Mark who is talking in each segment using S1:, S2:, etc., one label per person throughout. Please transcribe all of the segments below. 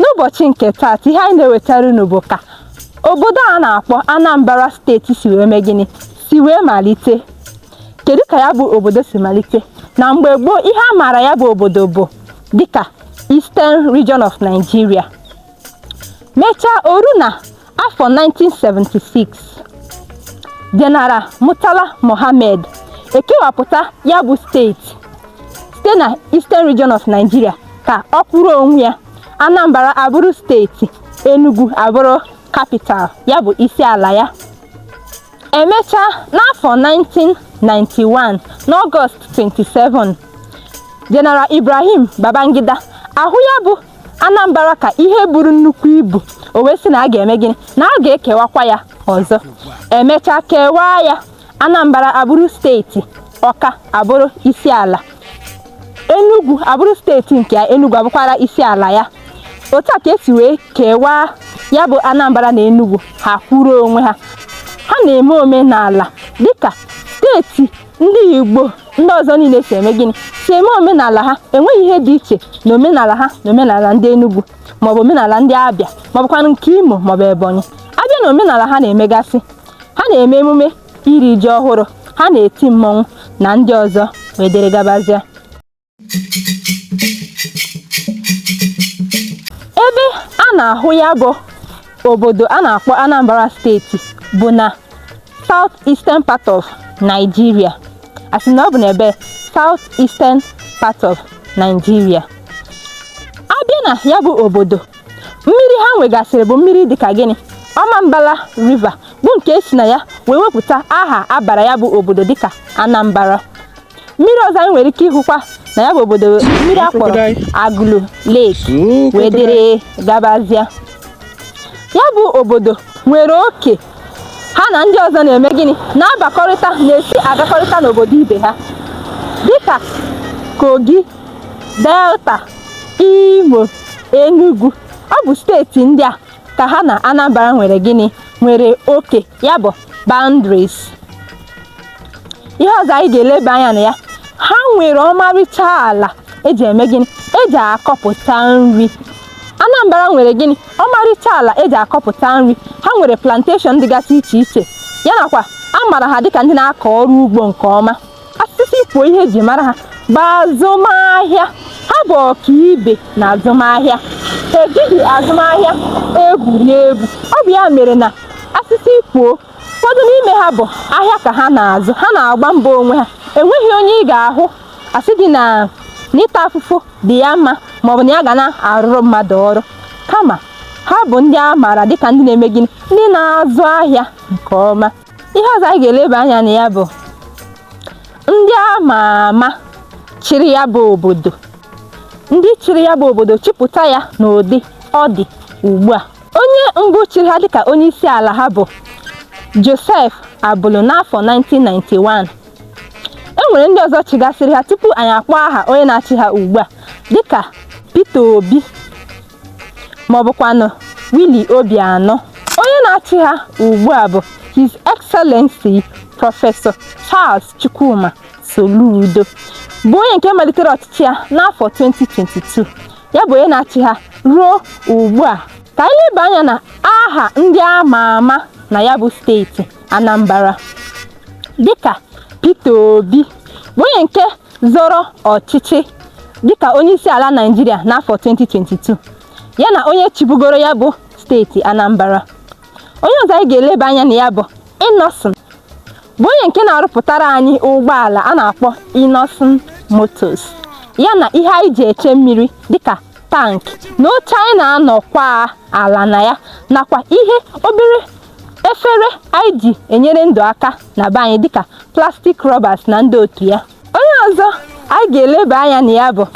S1: n'ụbọchị nke taata ihe anyị na-ewetara unu bụ ka obodo a na-akpọ Anambra steeti si wee mee gịnị si wee malite kedu ka ya bụ obodo si malite na mgbe gboo ihe a maara ya bụ obodo bụ dịka Eastern Region of Nigeria mechaa o ru na afọ 1976 General Murtala Mohammed ekewapụta ya bụ steeti site na Eastern Region of Nigeria ka ọ kwụrụ onwe ya Anambra abụrụ steeti Enugu abụrụ capital ya bụ isi ala ya emechaa n'afọ 1991 n'Ọgọst 27 General Ibrahim Babangida ahụ ya bụ Anambra ka ihe buru nnukwu ibu o wee sị na a ga-eme gịnị na a ga-ekewakwa ya ọzọ emechaa kewaa ya Anambra abụrụ steeti Ọka abụrụ isi ala Enugu abụrụ steeti nke ya Enugu abụkwara isi ala ya otu a ka esi wee kewaa ya bụ Anambra na Enugu ha kwụrụ onwe ha ha na-eme omenala dịka steeti ndị Igbo ndị ọzọ niile si eme gịnị si eme omenala ha enweghị ihe dị iche na omenala ha na omenala ndị Enugu maọbụ omenala ndị Abịa maọbụkwanụ nke Imo maọbụ Ebonyi abịa na omenala ha na-emegasị ha na-eme emume iri ji ọhụrụ ha na-eti mmọnwụ na ndị ọzọ wee dịrị gabazịa ebe a na-ahụ ya bụ obodo a na-akpọ Anambra steeti bụ na South Eastern part of Nigeria asị na ọ bụ n'ebe South Eastern part of Nigeria abịa na ya bụ obodo mmiri ha nwegasịrị bụ mmiri dịka gịnị Ọmambala River bụ nke esi na ya wee wepụta aha abara ya bụ obodo dịka Anambra mmiri ọzọ anyị nwere ike ịhụkwa na ya bụ obodo mmiri a kpọrọ Agụlụ Lake wee dịrị gabazịa ya bụ obodo nwere oke ha na ndị ọzọ na-eme gịnị na-abakọrịta na-esi agakọrịta n'obodo ibe ha dịka Kogi Delta Imo Enugu ọ bụ steeti ndị a ka ha na Anambra nwere gịnị nwere oke ya bụ boundaries ihe ọzọ anyị ga-eleba anya na ya ha nwere ọmarịcha ala eji eme gịnị eji akọpụta nri Anambra nwere gịnị ọmarịcha ala eji akọpụta nri ha nwere plantation dịgasị iche iche ya nakwa a maara ha dịka ndị na-akọ ọrụ ugbo nke ọma asịsị kwuo ihe eji mara ha bụ azụmahịa ha bụ ọkaibe na azụmahịa ha ejighị azụmahịa egwuri egwu ọ bụ ya mere na asịsị kwuo ụfọdụ n'ime ha bụ ahịa ka ha na-azụ ha na-agba mbọ onwe ha enweghị onye ị ga-ahụ asị gị na n'ịta afụfụ dị ya mma maọbụ na ya ga na-arụrụ mmadụ ọrụ kama ha bụ ndị a maara dịka ndị na-eme gịnị ndị na-azụ ahịa nke ọma ihe ọzọ anyị ga-eleba anya na ya bụ ndị a ma ama chịrị ya bụ obodo ndị chịrị ya bụ obodo chịpụta ya n'ụdị ọ dị ugbu a onye mbụ chịrị ha dịka onye isi ala ha bụ Joseph Abulu n'afọ 1991 e nwere ndị ọzọ chịgasịrị ha tupu anyị akpọ aha onye na-achị ha ugbu a dịka Peter Obi ma ọ bụkwanụ Willie Obianọ onye na-achị ha ugbu a bụ His Excellency Prọfesọ Charles Chukwuma Soludo bụ onye nke malitere ọchịchị ya n'afọ 2022 ya bụ onye na-achị ha ruo ugbu a ka anyị leba anya na aha ndị a ma ama na ya bụ steeti Anambra dịka Peter Obi bụ onye nke zọrọ ọchịchị dịka onyeisiala Naịjirịa n'afọ 2022 ya na onye chịbugoro ya bụ steeti Anambra onye ọzọ anyị ga-eleba anya na ya bụ Innoson bụ onye nke na-arụpụtara anyị ụgbọala a na-akpọ Innoson Motors ya na ihe anyị ji eche mmiri dịka tank na oche anyị na-anọkwa ala na ya nakwa ihe obere efere anyị ji enyere ndụ aka na be anyị dịka plastic rubbers na ndị otu ya onye ọzọ anyị ga-eleba anya na ya bụ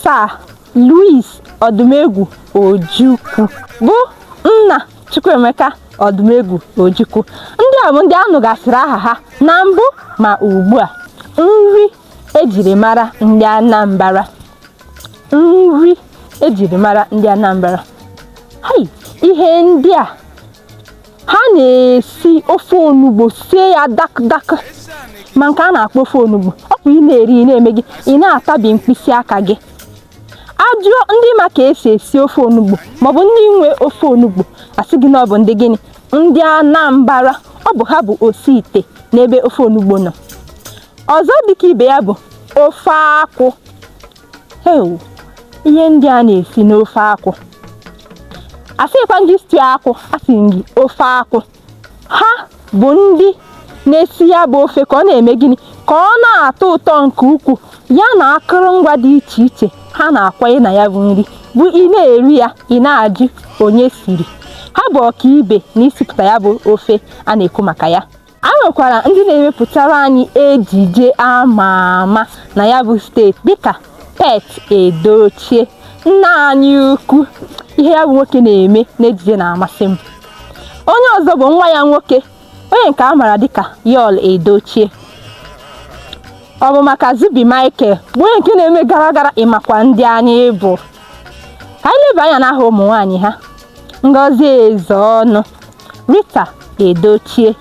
S1: Sir Louis Odumegwu Ojukwu bụ nna Chukwuemeka Odumegwu Ojukwu ndị a bụ ndị a nụgasịrị aha ha na mbụ ma ugbu a nri ejiri mara ndị Anambra nri ejiri mara ndị Anambra hai ihe ndị a ha na-esi ofe onugbo sie ya dak dak ma nke a na-akpọ ofe onugbo ọ bụ ị na-eri ị na-eme gịnị ị na-atabi mkpịsị aka gị ajụọ ndị ma ka esi esi ofe onugbo maọbụ ndị nwe ofe onugbo asị gị na ọ bụ ndị gịnị ndị Anambra ọ bụ ha bụ osi ite n'ebe ofe onugbo nọ ọzọ dịka ibe ya bụ ofe akwụ ewu ihe ndị a na-esi n'ofe akwụ asịkwa gị stew akwụ asị gị ofe akwụ ha bụ ndị na-esi ya bụ ofe ka ọ na-eme gịnị ka ọ na-atọ ụtọ nke ukwuu ya na akụrụngwa dị iche iche ha na-akwanye na ya bụ nri bụ ị na-eri ya ị na-ajụ onye siri ha bụ ọkaibe na isipụta ya bụ ofe a na-ekwu maka ya ha nwekwara ndị na-emepụtara anyị ejije ama ama na ya bụ steeti dịka pete edochie nna anyị ukwu ihe ya bụ nwoke na-eme n'ejije na-amasị m onye ọzọ bụ nwa ya nwoke onye nke a maara dịka yul edochie ọ bụ maka zubby michael bụ onye nke na-eme gara gara ị makwa ndị anyị bụ ka anyị leba anya n'aha ụmụ nwaanyị ha ngozi ezeonu Rita Edochie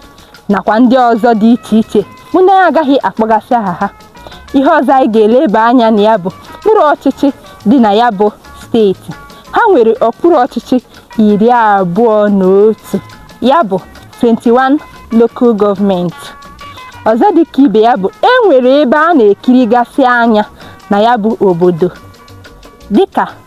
S1: nakwa ndị ọzọ dị iche iche bụ ndị anyị agaghị akpọgasị aha ha ihe ọzọ anyị ga-eleba anya na ya bụ okpuru ọchịchị dị na ya bụ steeti ha nwere okpuru ọchịchị iri abụọ na otu ya bụ 21 local government ọzọ dị ka ibe ya bụ e nwere ebe a na-ekirigasị anya na ya bụ obodo dịka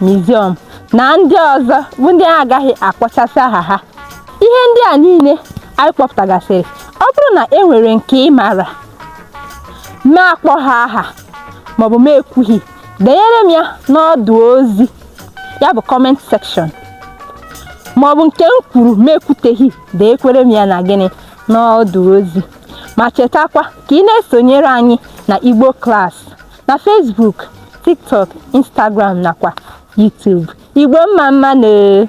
S1: museum na ndị ọzọ bụ ndị anyị agaghị akpọchasị aha ha ihe ndị a niile anyị kpọpụtagasịrị ọ bụrụ na e nwere nke ị maara ma akpọghị aha maọbụ ma ekwughị denyere m ya n'ọdụ ozi ya bụ comment section maọbụ nke m kwuru ma ekwuteghị denyekwere m ya na gịnị n'ọdụ ozi ma chetakwa ka ị na-esonyere anyị na Igbo Class na Facebook TikTok Instagram nakwa YouTube Igbo mma mma nee